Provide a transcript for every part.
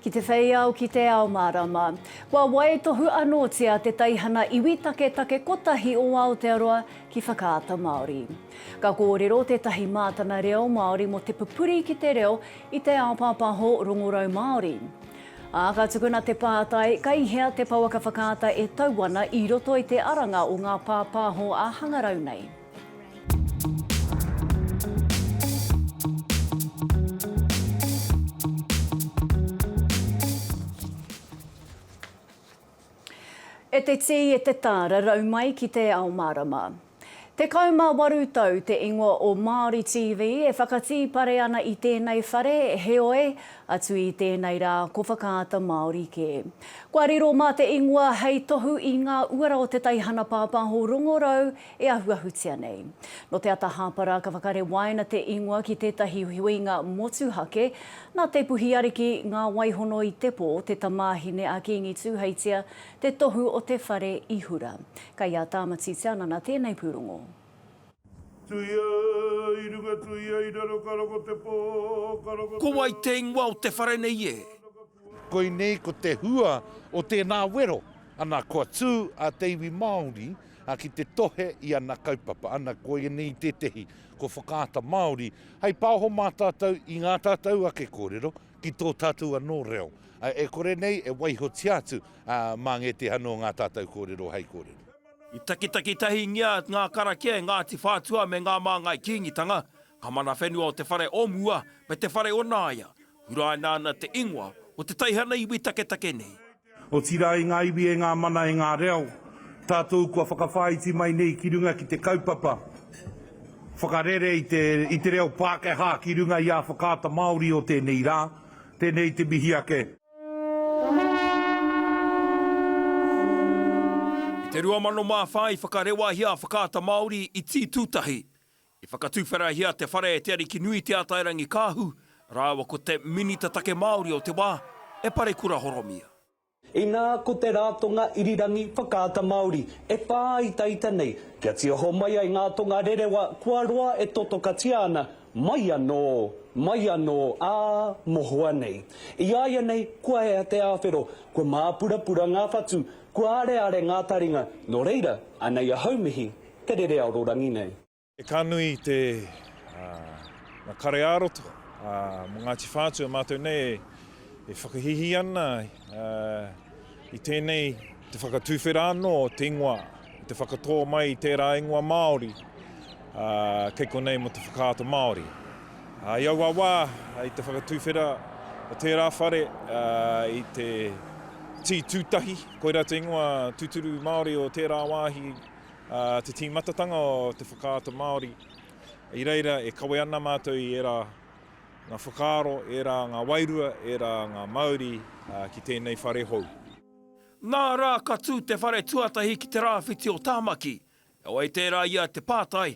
Ki te whei ao, ki te ao mārama. Kua waitohu anōtia te teihana iwi taketake kotahi o Aotearoa ki Whakaata Māori. Ka kōrero tētahi mātanga reo Māori mō te pupuri ki te reo i te ao pāpāho rongorau Māori. Ā, ka tukuna te pātai, Kei hea te pouaka whakaata e tau ana i roto i te aranga o ngā pāpāho ā-hangarau nei? E te tī, e te tā, rarau mai ki te ao mārama. Tekau mā waru tau te ingoa o Māori TV e whakatīpare ana i tēnei whare, heoi, atu i tēnei rā, ko Whakaata Māori kē. Kua riro mā te ingoa hei tohu i ngā uara o te teihana pāpāho rongorau e ahuahutia nei. Nō te ata hāpara ka whakarewaina te ingoa ki tētahi huinga motuhake. Nā Te Puhi Ariki, Ngā Waihono i Tepō, te tamāhine a Kīngi Tūheitia, te tohu o te whare i hura. Kei a Tāmati Te Anana tēnei pūrongo. Tuia i runga tuia i raro ka roko te pō ka roko te. Ko wai te ingoa o te whare nei e? Koinei ko te hua o tēnā wero, ana, kua tū a te iwi Māori ki te tohe i ana kaupapa, ana, koinei tētehi kua whakaata Māori hei pāho mā tātou i ngā tātou ake kōrero ki tō tātou anō reo, e kore nei e waihotia atu mā ngētehi anō ngā tātou kōrero hei kōrero. I takitaki tahingia ngā karakia e Ngāti Whātua me ngā Māngai Kīngitanga, Ka mana whenua o te whare o mua me te whare o Nāia, huraina ana te ingoa o te teihana iwi taketake nei. Otirā e ngā iwi, e ngā mana, e ngā reo, tātou kua whakawhāiti mai nei ki runga ki te kaupapa whakarere i te reo Pākehā ki runga i ā Whakaata Māori o tēnei rā, tēnei te mihi ake. I te 2004 i whakarewahia a Whakaata Māori i Tītūtahi, I whakatuwherahia te whare e Te Arikinui Te Atairangikaahu rāua ko te Minita Take Māori o te wā, e Parekura Horomia. Inā ko te Rātonga Irirangi Whakaata Māori e whāitaita nei kia tiho mai ai ngā tonga rerewa kua roa e totokatia ana mai anō, mai anō, ā mohoa nei. I āianei kua ea te āwhero, kua māpurapura ngā whatu, kua areare ngā taringa, nō reira, anei ahau mihi Te rere aororangi nei. E ka nui i te nga kare ā-roto mo Ngāti Whātua mātou nei e whakahīhī ana i tēnei te whakatuwhera anō o te ingoa i te whakatō mai i tērā ingoa Māori kei konei mo te whakaata Māori. I aua wā i te whakatuwhera o tērā whare i te Tī Tūtahi koira te ingoa tuturu Māori o tērā wāhi te tīmatatanga o te whakaata Māori. I reira e kawe ana mātou i ērā ngā whakaaro, ērā ngā wairua, ērā ngā mauri ki tēnei whare hou. Nā rā ka tū te whare tuatahi ki te rāwhiti o Tāmaki, heoi tērā ia te pātai,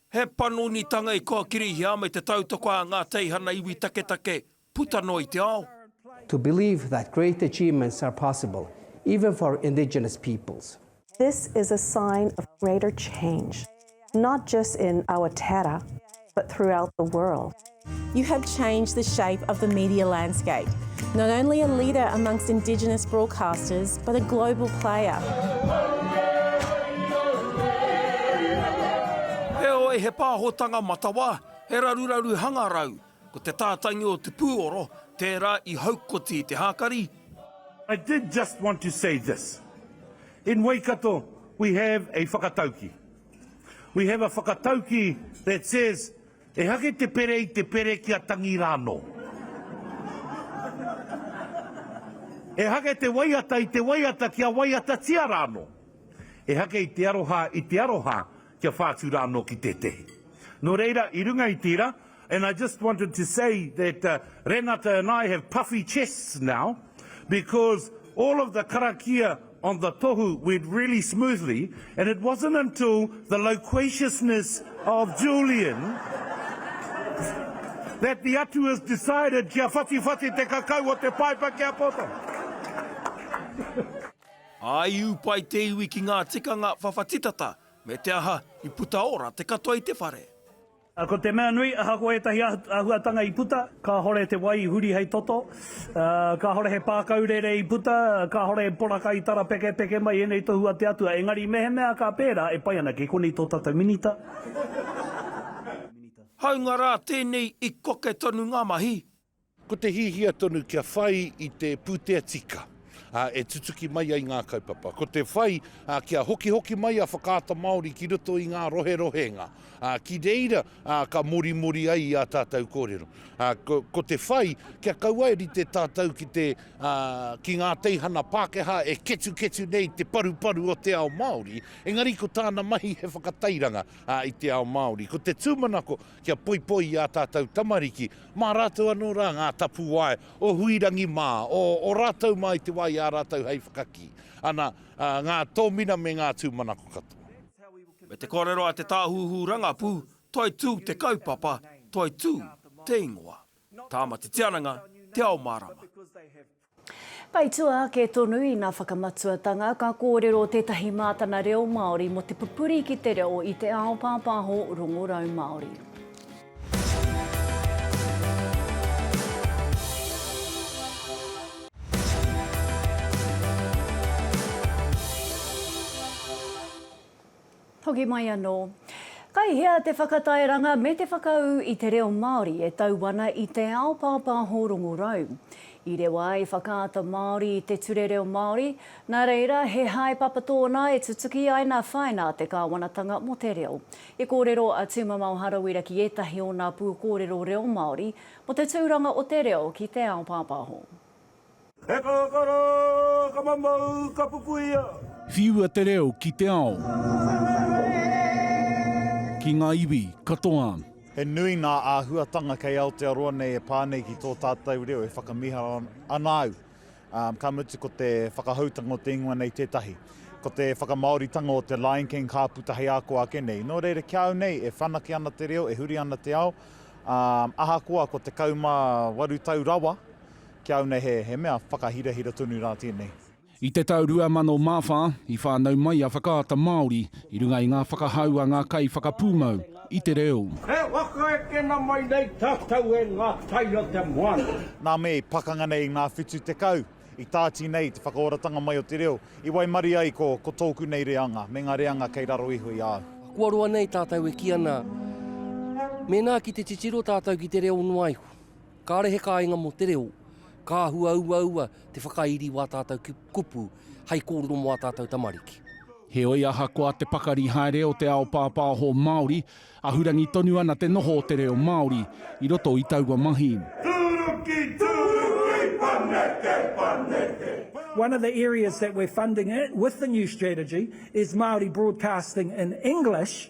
He panonitanga i kōkirihia me te tautoko a ngā teihana iwi taketake puta noa i te ao. To believe that great achievements are possible, even for indigenous peoples. This is a sign of greater change, not just in Awatere, but throughout the world. You have changed the shape of the media landscape. Not only a leader amongst Indigenous broadcasters, but a global player. Heoi, he pāhotanga matawa, he raruraru hangarau, ko te tātangi o te pūoro, tērā i haukoti te hākari, I did just want to say this, in Waikato we have a whakatauki, we have a whakatauki that says Ehake te pere i te pere kia tangi rānō. Ehake te waiata i te waiata kia waiatatia rānō. Ehake i te aroha i te aroha kia whātu rānō ki tētehi. Nō reira, i runga i tērā, and I just wanted to say that Renata and I have puffy chests now because all of the karakia on the tohu went really smoothly and it wasn't until the loquaciousness of Julian that the Atuas decided kia whatiwhati te kakau o te paepa ki a koutou. I upai te iwi ki ngā tikanga whawhati tata, me te aha, i puta ora te katoa i te whare. Ko te mea nui, ahakoa ētahi āhuatanga i puta, kāhore te wai i huri hei toto, ā, kāhore he pākau rere i puta, kāhore he poraka i tarapekepeke mai, ēnei tohu a te Atua. Engari mehemea ka pērā, e pai ana, kei konei tō tātou Minita. Hāunga rā tēnei i koke tonu ngā mahi, Ko te hiahia tonu kia whai i te pūtea tika e tutuki mai ai ngā kaupapa. Ko te whai kia hokihoki mai a Whakaata Māori ki roto i ngā roherohenga ki reira ka morimori ai i ā tātou kōrero. Ko te whai kia kaua e rite tātou ki te ki ngā teihana Pākehā e ketuketu nei te paruparu o te ao Māori, engari ko tāna mahi he whakatairanga i te ao Māori. Ko te tūmanako Kia poipoi i ā tātou tamariki, mā rātou anō rā ngā tapuwae o Huirangi mā, o ō rātou mā i te wā i a rātou hei whakakī ana ngā tōmina me ngā tūmanako katoa. Me te kōrero a te tāhuhu rangapū, Toitū te kaupapa, toitū te ingoa. Tāmati Tiananga, Te Ao Mārama. Tae tua ake tonu ina whakamatuatanga, ka kōrero tētahi mātana reo Māori mō te pupuri ki te reo i te ao pāpāho rongorau Māori. Hoki mai anō. Kai hea te whakatairanga me te whakaū i te reo Māori e tau ana i te ao pāpāho rongorau? I rewa ai Whakaata Māori i te Ture Reo Māori, nā reira he haepapa tōna e tutuki ai nā whaina a te Kāwanatanga mō te reo. I kōrero a Tūmamao Harawira ki ētahi o nā pūkōrero reo Māori mō te tūranga o te reo ki te ao pāpāho. He kakara, ka mamau, ka pupuia. Whiua te reo ki te ao. Ki ngā iwi katoa. He nui ngā āhuatanga kei Aotearoa nei e pā nei ki tō tātou reo e whakamiharo ana au. Ka mutu ko te whakahoutanga o te ingoa nei tētahi. Ko te whakamāoritanga o te Lion King ka puta hei ako ake nei. Nō reira ki a au nei e whanake ana te reo, e huri ana te ao, ā, ahakoa ko 18 tau rawa Ki a au nei he, he mea whakahirahira tonu rā tēnei. I te tau 2004, i whānau mai a Whakaata Māori i runga i ngā whakahau a ngā kaiwhakapūmau i te reo. E whaka ekena mai nei tātou e ngā tai o te moana. Nā me i pakanga nei i ngā whitu tekau, i tāti nei te whakaoratanga mai o te reo, i waimarie ai ko, ko tōku nei reanga, me ngā reanga kei raro iho i a au. Kua roa nei tātou e kī ana, mēnā ki te titiro tātou ki te reo noa iho. Kāre he kāinga mō te reo, ka hua uaua te whakairi wā tātou kupu hei kōrero mō ā tātou tamariki. Heoi, ahakoa te pakari haere o te ao pāpāho Māori, ahurangi tonu ana te noho o te reo Māori i roto i taua mahi. Tūruki, tūruki, paneke, paneke. One of the areas that we're funding with the new strategy is Māori broadcasting in English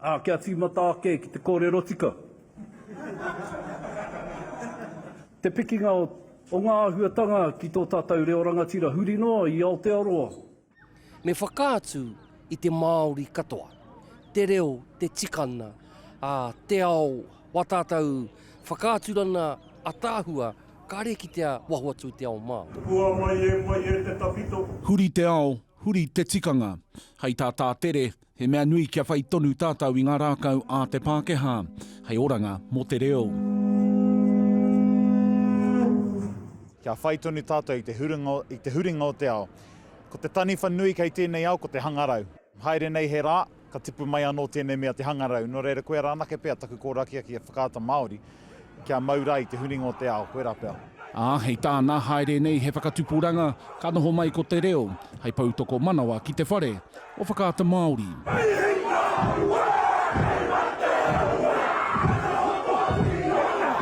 Ā, kia tīmata ake ki te kōrero tika. Te pikinga o ngā āhuatanga ki tō tātou reo rangatira huri noa i Aotearoa. Me whakaatu i te Māori katoa, te reo, te tikanga, ā, te ao wā tātou whakaaturana ataahua kāre kitea waho atu i te ao Māori. Hua mai e mai e te tawhito. Huri te ao, huri te tikanga. Hei tā Tātere, He mea nui kia whai tonu tātou i ngā rākau a te Pākehā hei oranga mō te reo. Kia whai tonu tātou i te huringa, i te huringa o te ao. Ko te taniwha nui kei tēnei ao ko te hangarau. Haere nei he rā, ka tipu mai anō tēnei mea te hangarau. Nō reira, koia rā anake pea taku kōrakiaki e Whakaata Māori. Kia mau ra i te huringa o te ao, koe ra pea. A, hei tāna, haere nei he whakatupuranga, ka noho mai ko te reo, hei pou tokomanawa ki te whare o Whakaata Māori. Hei hinga aua, hei mate aua, noho Māori ōna,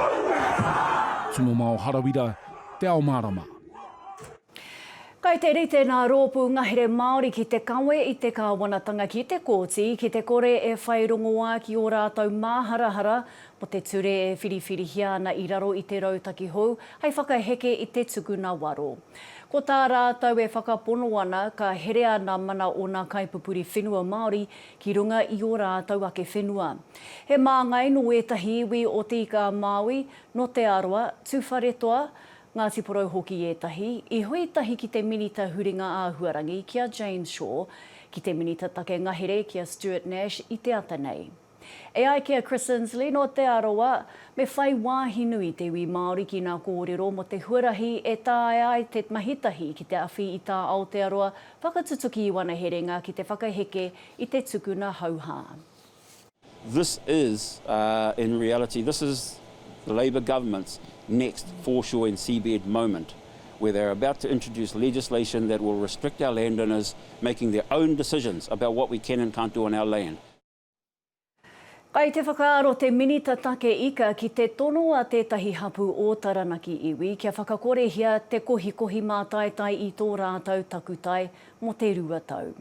aue rā! Tumomao Harawira, Te Ao Mārama. Kai te rite ngā rōpū ngahere Māori ki te kawe i te kāwanatanga ki te kōti ki te kore e whai rongoā ki ō rātou māharahara mō te ture e whiriwhirihia ana i raro i te rautaki hou hai whakaheke i te tukuna waro. Ko tā rātou e whakapono ana ka herea nā mana ōna kaipupuri whenua Māori ki runga i ō rātou ake whenua. He māngai nō ētahi iwi o Te Ika-a-Māui, nō Te Arawa, Tuwharetoa, Ngāti Porou hoki ētahi, i hui tahi ki te Minita Huringa Āhuarangi ki a Jane Shaw, ki te Minita Take Ngahere ki a Stuart Nash i te ata nei. E ai ki a Chris Insley nō Te Arawa, me whai wāhi nui te iwi Māori ki ngā kōrero mō te huarahi e taea ai te mahi tahi ki te awhi i tā Aotearoa whakatutuki i wana herenga ki te whakaheke i te tukuna hauhā. This is, in reality, this is the Labour Government's next foreshore and seabed moment, where they are about to introduce legislation that will restrict our landowners making their own decisions about what we can and can't do on our land. Kai te whakaaro te Minita Take Ika ki te tono a tētahi hapū o Taranaki iwi kia whakakorehia te kohikohi mātaitai i tō rātou takutai mō te rua tau.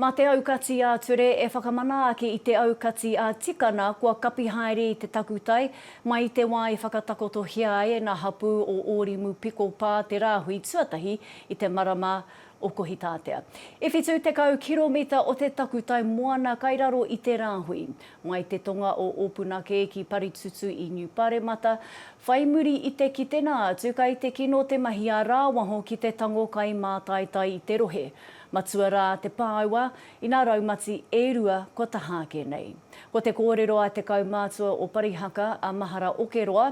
Mā te aukati ā-ture e whakamana ake i te aukati ā-tikana kua kapi haere i te takutai mai i te wā i whakatakotohia ai e ngā hapū o Ōrimu Piko Pā te rāhui tuatahi i te marama o Kohitātea. E whitu tekau kiromita o te takutai moana kai raro i te rāhui. Mai te tonga o Opunake ki Paritutu i Niu Paremata, whai muri i te kitenga atu kai te kino te mahi a rāwaho ki te tango kai mātaitai i te rohe. Matua rā te pāua, ina raumati e rua kua taha ake nei. Ko te kōrero a te kaumātua o Parihaka, a Mahara Okeroa,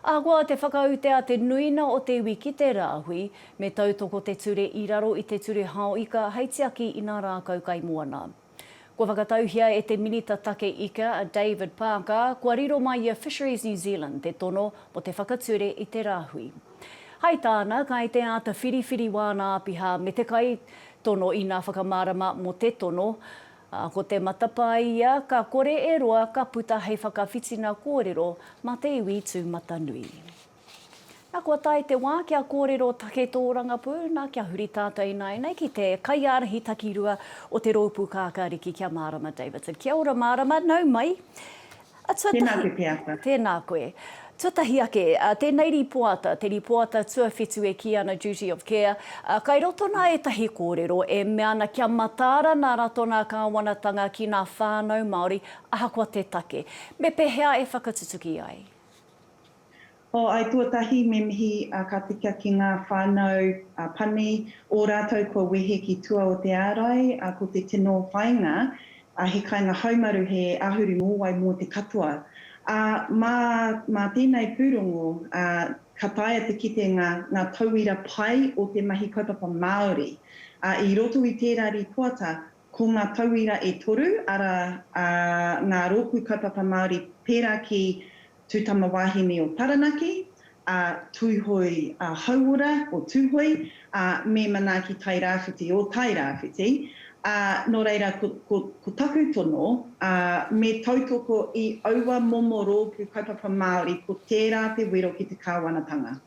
Ahakoa te whakaute a te nuina o te iwi ki te rāhui, me tautoko te ture i raro i te ture hao ika hei tiaki i nā rākau kaimoana. Kua whakatauhia e te Minita Take Ika, a David Parker, kua riro mai i a Fisheries New Zealand te tono mō te whakature i te rāhui. Hai tāna, kai te āta whiriwhiri wāna āpiha me te kai tono ina whakamārama mō te tono, ā, ko te matapae ia ka kore e roa ka puta hei whakawhitina kōrero mā te iwi tūmatanui. Na kua tae te wā kia kōrero take tō rangapū, na kia huri tātou ināianei ki te kaiārahi takirua o te rōpū kākāriki kia mārama Davidson. Kia ora mārama, nau mai. Tēnā koe Te Ata. Tēnā koe. Tuatahi ake, tēnei rīpoata, te rīpoata tuawhitu e kī ana Duty of Care, kai roto nā ētahi kōrero e mea ana kia mataara nā rato nā kāwanatanga ki nā whānau Māori ahakoa te take. Me pehea e whakatutuki ai? O, ai tuatahi me mihi a ka tika ki nga whanau a Pani, o ratou kua wehe ki tua o te arai, a ko te tino whainga, a he kainga haumaru he ahuru mowai mo te katoa. A, ma, ma tenei purongo, a, ka taea te kite nga, nga tauira pai o te mahi kaupapa Maori. A, i roto i tera ripoata, Ko ngā tauira e toru, arā, ā, ngā rōpū kaupapa Māori pērā ki Tū Tama Wāhine o Taranaki, a Tūhoe Hauora o Tūhoe, ā, me Manaaki Tairāwhiti o Tairāwhiti, ā, nō reira ko, ko, ko taku tono, ā, me tautoko i aua momo rōpū kaupapa Māori ko tērā te wero ki te kāwanatanga.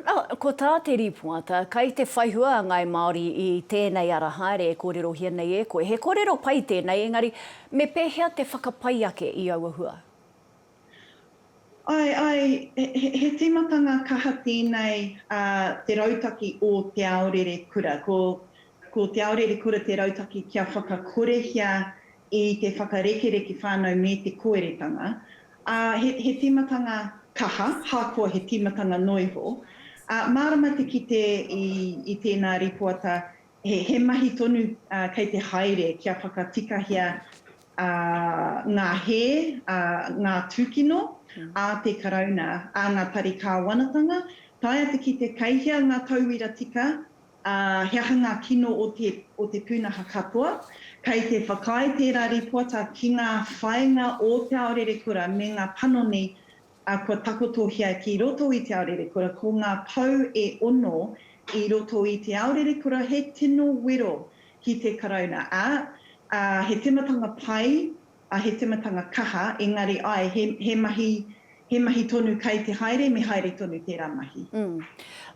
Nā, ko tā te rīpoata, kai te whaihua a Ngāi Māori i tēnei ara haere e kōrerohia nei e koe. He kōrero pai tēnei, engari me pēhea te whakapai ake i aua hua? Āe, āe, he tīmatanga kaha tēnei a te rautaki o Te Aorere Kura. Ko, ko Te Aorere Kura te rautaki kia whakakorehia i te whakarekereke whānau me te koeretanga, Ā, he, he tīmatanga kaha, hakoa he tīmatanga noa iho. Ā, mārama te kite i, i tēnā rīpoata, he, he mahi tonu ā, kei te haere kia whakatikahia ā, ngā hē, ā, ngā tūkino ā te Karauna, ā ngā tari kāwanatanga, taea te kite kei hea ngā tauira tika Ā, he aha ngā kino o te, o te pūnaha katoa? Kei te whakaae tērā rīpoata ki ngā whāinga o Te Ao Rerekura me ngā panoni, ā, kua takotohia ki roto i Te Ao Rerekura, ko ngā pou e ono i roto i Te Ao Rerekura he tino wero ki te Karauna, ā, ā, he tematanga pai A he timatanga kaha, engari ae, he, he mahi, he mahi tonu kai te haere, me haere tonu tera mahi. Mm.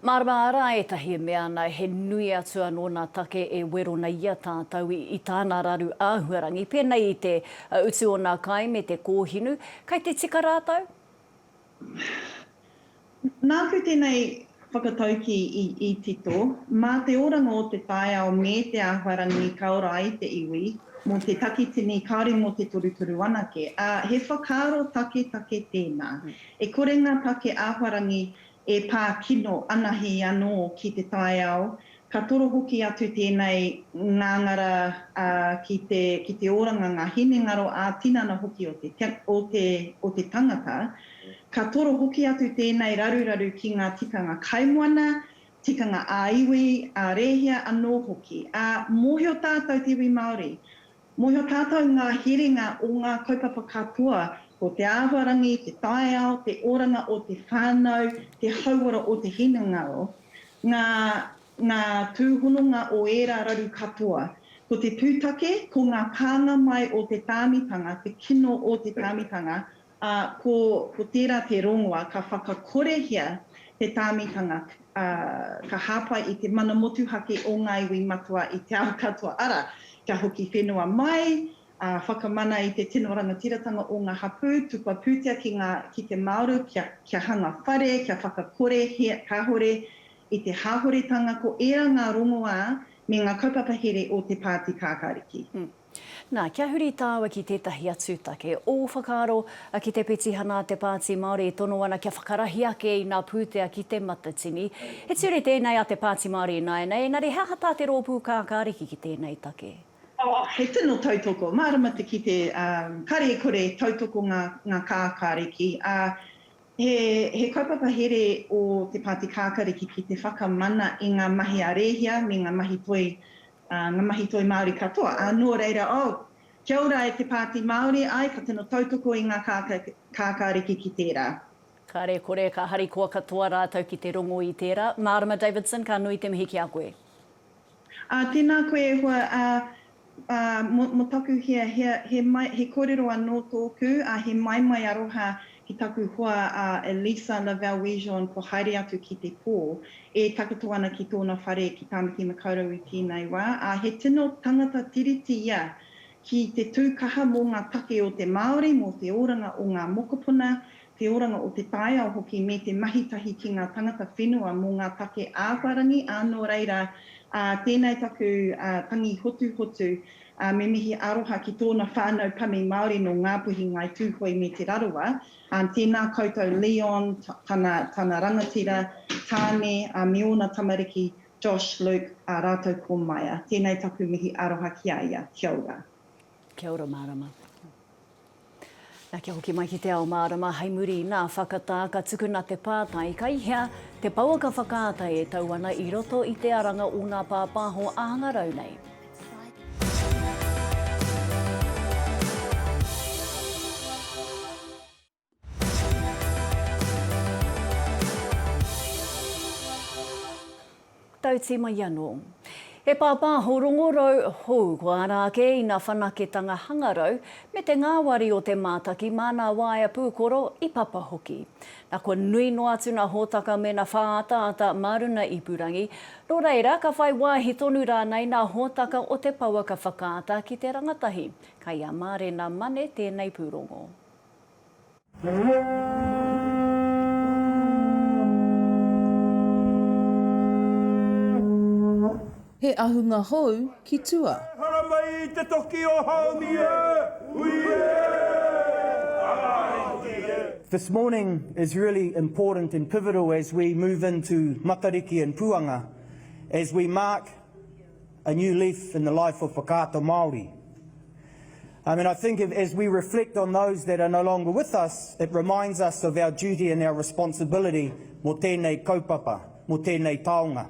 Marama ara etahi e mea ana he nui atu ano na take e werona ia tatou i, i tana raru ahuarangi, penei i te utu o na kai me te kohinu, kai te tika ratou? Nāku tēnei whakataukī i tito, mā te oranga o te taiao me te āhuarangi ka ora ai te iwi, mō te takitini kāore mō te torutoru anake, ā, he whakaaro taketake tēnā. E kore ngā take āhuarangi e pā kino anahe anō ki te taiao, Ka toro hoki atu tēnei ngāngara ki te oranga, ngā hinengaro ā-tinana hoki o te tangata. Ka toro hoki atu tēnei raruraru ki ngā tikanga kaimoana, tikanga ā-iwi, ā-rēhia anō hoki. Ā, mōhio tātou te iwi Māori, Mōhio tātou ngā herenga o ngā kaupapa katoa, ko te āhuarangi, te taiao, te oranga o te whānau, te hauora o te hinengaro, ngā, ngā tūhononga o ērā raru katoa. Ko te pūtake, ko ngā pānga mai o te tāmitanga, te kino o te tāmitanga, Ā, ko, ko tērā te rongoa ka whakakorehia te tāmitanga, ā, ka hāpai i te mana motuhake o ngā iwi matua i te ao katoa, arā, kia hoki whenua mai, ā, whakamana i te tino rangatiratanga o ngā hapū, tukua pūtea ki ngā, ki te māoru, kia, kia hanga whare, kia whakakorehia kāore i te hāhoretanga, ko ērā ngā rongoā me ngā kaupapa here o te Pāti Kākāriki. Nā, kia huri tāua ki tētahi atu take. Ō whakaaro, ki te petihana a te Pāti Māori e tono ana kia whakarahi ake i nā pūtea ki Te Matatini. He ture tēnei a te Pāti Māori ināianei, engari he aha tā te rōpū kākāriki ki tēnei take? Oh, he tino tautoko. Mārama te kite, ā, karekore tautoko ngā, ngā kākāriki. Ā, he, he kaupapa here ō te Pāti Kākāriki ki te whakamana i ngā mahi a Rēhia me ngā mahi toi ā, ngā mahi toi Māori katoa, ā, nō reira, oh! Kia ora e te Pāti Māori, āe, ka tino tautoko i ngā kākāriki ki tērā. Kāre kore, ka harikoa katoa rātou ki te rongo i tērā. Mārama Davidson, ka nui te mihi ki a koe. Ā, tēnā koe e hoa, ā, ā, mō, mō taku hiahia, he mai, he kōrero anō tōku, ā, he maimai aroha ki taku hoa a Elisa Lavelle Wejeon kua haere atu ki te pō, e takoto ana ki tōna whare ki Tāmaki Makaurau i tēnei wā, ā, he tino tangata Tiriti ia ki te tū kaha mō ngā take o te Māori, mō te oranga o ngā mokopuna, te oranga o te taiao hoki me te mahi tahi ki ngā tangata whenua mō ngā take āwharangi, ā, nō reira, ā, tēnei taku tangi hotuhotu. ā, me mihi aroha ki tōna whānau pani Māori nō Ngāpuhi, Ngāi Tūhoe me Te Rarawa, ā, tēnā koutou Leon, tana, tana rangatira, Tāne, ā, me ōna tamariki, Josh, Luke, ā rātou ko Maya. Tēnei taku mihi aroha ki a ia. Kia ora. Kia ora marama. Na kia hoki mai ki te ao mārama hai muri i nā whakatā ka tukuna te pātai kai hea te pouaka whakaata e tau ana i roto i te aranga o nā pāpāho āngarau nei. Tauti mai anō. He pāpāho rongorau hou, ko ārā ake ina whanaketanga hangarau, me te ngāwari o te mātaki mā nā waea pūkoro i papa hoki. Na kua nui noa atu nā hōtaka mēnā whāataata mā runa ipurangi, nō reira ka whai wāhi tonu rānei nā hōtaka o te pouaka whakaata ki te rangatahi, kai a Mārena Mane tēnei pūrongo. He ahunga hou ki tua. E hara mai i te toki o Haumi e! Hui e! Ai ki e! This morning is really important and pivotal as we move into Matariki and Puanga, as we mark A new leaf in the life of Whakaata Māori. Um, and I think if, as we reflect on those that are no longer with us, it reminds us of our duty and our responsibility mō tēnei kaupapa, mō tēnei taonga.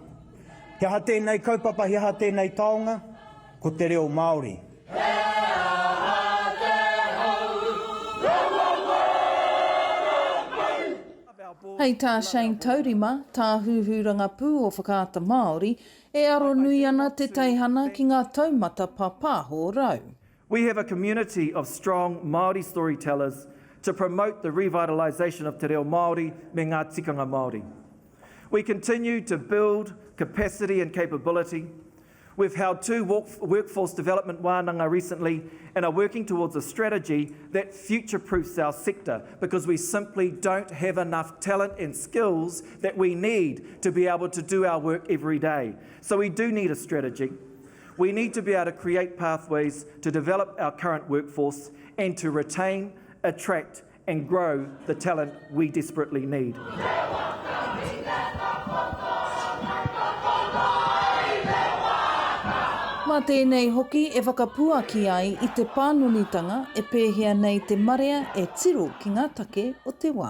He aha tēnei kaupapa, he aha tēnei taonga? Ko te reo Māori. Hei tā Shane Taurima, Tāhuhu Rangapū o Whakaata Māori, E aro nui ana te teihana ki ngā taumata pāpāho rau. We have a community of strong Māori storytellers to promote the revitalisation of te reo Māori me ngā tikanga Māori. We continue to build capacity and capability. We've held two workforce development wānanga recently and are working towards a strategy that future-proofs our sector because we simply don't have enough talent and skills that we need to be able to do our work every day. So we do need a strategy. We need to be able to create pathways to develop our current workforce and to retain, attract and grow the talent we desperately need. Mā tēnei hoki e whakapuaki ai i te pānonitanga e pēhea nei te marea e tiro ki ngā take o te wā.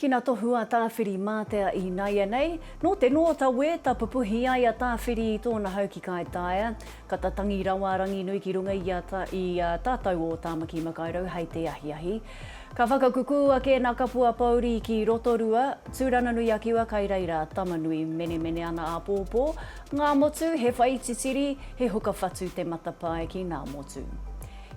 Ki na tohu a Tawhiri matea i naianei, no te no ta we ta pupuhi ai a Tawhiri i tona hau ki Kai Taea, ka ta tangi rawa a Ranginui ki runga i a i a tatou o Tamaki Makairau hei te ahiahi. Ka whakakukū ake na Kapua Pouri ki Rotorua, Turanganui-a-Kiwa kai reira Tamanui menemene ana apopo, nga motu he whai titiri, he huka whatu te matapae ki na motu.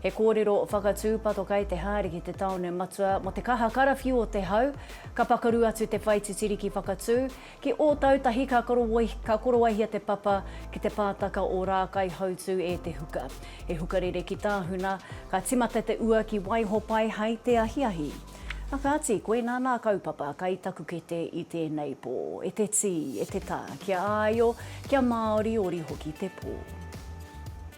He kōrero whakatūpato kei te haere ki te tāone matua mō te kaha karawhiu o te hau. Ka pakaru atu te whai titiri ki Whakatū. Ki Ōtautahi ka ka korowaihia te papa ki te pātaka o Rākaihautū e Te Huka. He hukarere ki Tāhuna. Ka timata te ua ki Waihopai hai te ahiahi. A kāti, koinā nā kaupapa kai taku kete i tēnei pō. E te tī, e te tā, kia āio, kia māoriori hoki te pō.